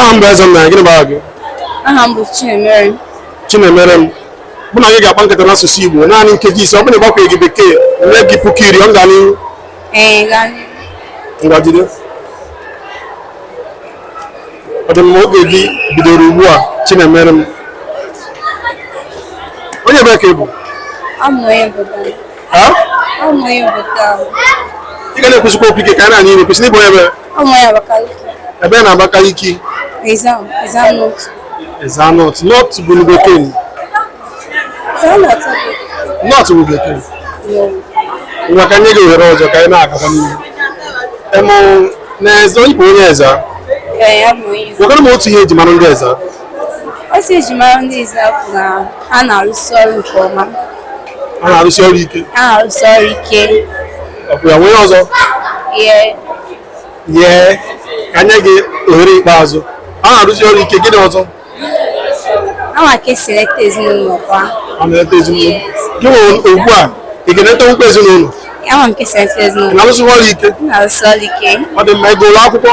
aha m bụ Ezenna gịnị bụ aha gị aha m bụ Chinemere Chinemerem mụ na gị ga-akpa nkata n'asụsụ Igbo naanị nkeji ise ọ bụrụ na ị gwakwaghị bekee m nye gị puku iri ọ ga n'ihu ngwagide ọ dị mma oge gị bidoro ugbu a Chinemerem onye ebee ka ị bụ ị ga na-ekwusikwa okwu ike ka a na-anụ ihe kwesịrị ị bụ onye ebee na Abakaliki Ezza North North Local Government North Local Government ngwa ka m nye gị ohere ọzọ ka anyị na-agaba n'ihu emụ na eze ị bụ onye Ezza gwanụ m otu ihe eji mara ndị Ezza otu eji mara ndị Ezza bụ na ha na-arụsi ọrụ nke ọma ha na-arụsi ọrụ ike ha na-arụsi ọrụ ike o nwere ọzọ Yee. yee ka m nye gị ohere ikpeazụ ha na-arụsi ọrụ ike gịnị ọzọ Ha ma ka esi eleta ezinụlọ kwa. ha na-eleta ezinụlọ gị onwe gị ugbu a ị ga-eletanwukwa ezinụlọ Ama m ka esi eleta ezinụlọ. ị na-arụsi ọrụ ike M na-arụsi ọrụ ike. ọ dị mma ị gụrụ akwụkwọ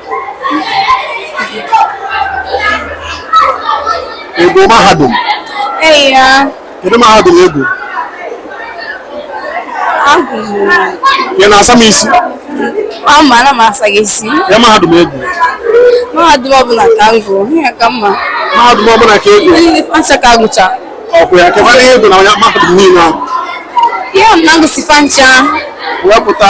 Ị gụrụ mahadum. Ee ya. Kedu mahadum ị gụrụ? Agụ. Ị na-asa m isi? Mba anaghị m asa gị isi. Kee mahadum ị gụrụ. Mahadum ọbụla ka m gụrụ, ihe ka mma. Mahadum ọbụla ka ị gụrụ. Ndị fa ncha ka agụcha. Ọkụ ya, kekwanụ ihe ị gụrụ na mahadum niile ahụ. Ihe m na-agụsi fa ncha. Wepụta.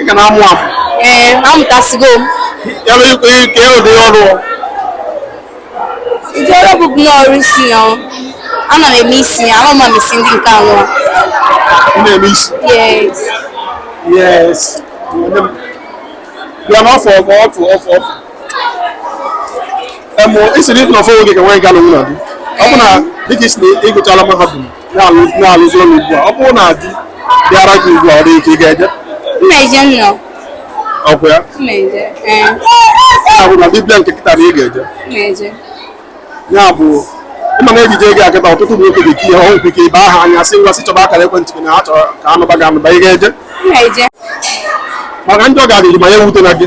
ị ka na-amụ amụ ee amụtasigo m ebe ikwe kee ụdị ọrụ ụdị ọrụ bụ bụ n'ọrụ isi ya ọ. ana m eme isi ya ama m eme isi ndị nke anọ ị na-eme isi yes yes Onye m- bịa n'ọfọ ọfọ ọfọ ọfọ ọfọ emụ isi na ịfụ na ọfọ oge ka nwaanyị ga-alụ nwunye gị ọ bụ na dịka ị sị na ị gụchaala mahadum na-alụzi ụlọ ugbu a ọ bụrụ na di bịara gị ugbu a ọ dị ike ị ga-eje Mmeje nnọ. ọkwa ya Mmeje. Ee. ya bụ na di bịara gị kịta na ị ga-eje Mmeje. ya bụ ị ma na ejije gị kịta ọtụtụ ụmụ nwoke ga-etinye ọnụ ike ibe aha anya sị ngwa sị chọba akara ekwentị gị na ha chọrọ ka ha nụba gị anụba ị ga-eje Mmeje. maka ndị ọ ga-adịghị mma ya ewutena gị